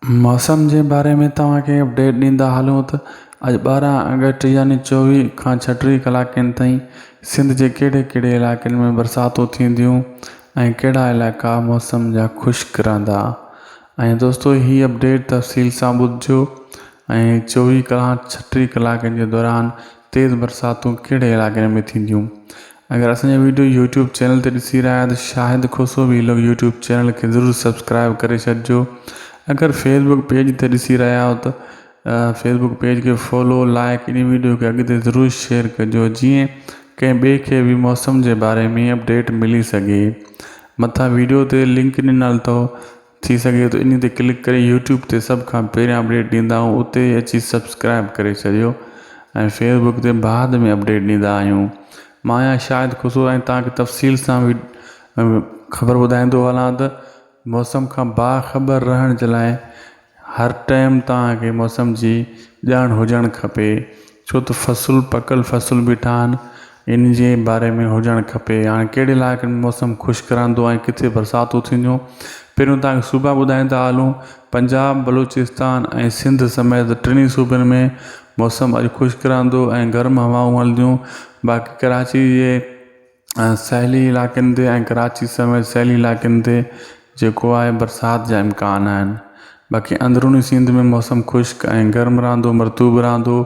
موسم جي باري ۾ توهان کي اپڊيٽ ڏيندا هلون ته اڄ ٻارهن آگسٽ يعني چوويهه کان ڇهٽيهه ڪلاڪن تائين سنڌ جي ڪهڙي ڪهڙي علائقن ۾ برساتون ٿينديون ۽ ڪهڙا علائقا موسم جا خشڪ رهندا ۽ دوستو هي اپڊيٽ تفصيل سان ٻڌجو ۽ چوويهه کان ڇهٽيهه ڪلاڪن جي دوران تيز برساتون ڪهڙي علائقن ۾ ٿينديون اگر اسان جا ويڊيو يوٽيوب چينل تي ڏسي رهيا آهيو ته Shahid Khoso vlog YouTube channel کي ضرور سبسڪرائب ڪري ڇڏجو اگر فيس بڪ پيج تي ڏسي رهيا آهيو ته فيس بڪ پيج کي فالو لائڪ ان ويڊيو کي اڳتي ضرور شيئر ڪجو جيئن ڪنهن ٻئي کي به موسم جي باري ۾ اپڊيٽ ملي سگهي مٿان ويڊيو تي لنڪ ڏنل اٿو ٿي سگهي ته انهي تي ڪلڪ ڪري يوٽيوب تي سڀ کان پهريان اپڊيٽ ڏيندا آهيون اتي ئي اچي سبسڪرائب ڪري ڇڏيو ۽ فيس بڪ تي بعد ۾ اپڊيٽ ڏيندا آهيون مان آهيان شاهد خسرو ۽ توهان کي تفصيل سان خبر ٻڌائيندو هلان ته موسم کان باخبر رهڻ جي لاء هر ٽائيم توهان کي موسم جي ڄاڻ هجڻ کپي ڇو ته فصل پڪل فصل بيٺا آهن ان جي باري ۾ هجڻ کپي يا ڪهڙي علائقن ۾ موسم خشڪ رهندو ۽ ڪٿي برساتون ٿينديون پهريون توهان کي صوبا ٻڌائيندا هلون پنجاب بلوچستان ۽ سنڌ سميت ٽنهي صوبن ۾ موسم اڄ خشڪ رهندو ۽ گرم هوائون هلنديون باقي ڪراچي جي سهيلي علائقن تي ۽ ڪراچي سميت سهيلي علائقن تي جيڪو آهي برسات جا امڪان آهن باقي اندروني سنڌ ۾ موسم خشڪ ۽ گرم رهندو مرطوب رهندو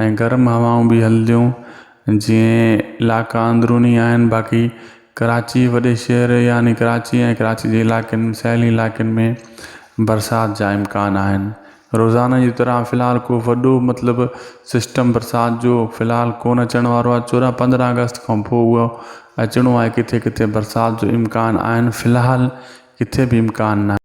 ۽ گرم هوائون به هلنديون جيئن علائقا اندروني آهن باقي ڪراچي وڏي شهر يعني ڪراچي ۽ ڪراچي جي علائقن سهيلين علائقن ۾ برسات جا امڪان آهن روزانه جي طرح في الحال ڪو وڏو مطلب سسٽم برسات جو في الحال ڪون اچڻ وارو آهي چوڏهن پندرهن اگست کان پوء اهو اچڻو آهي ڪٿي ڪٿي برسات جو امڪان آهن في الحال ڪٿي به امڪان ناهي.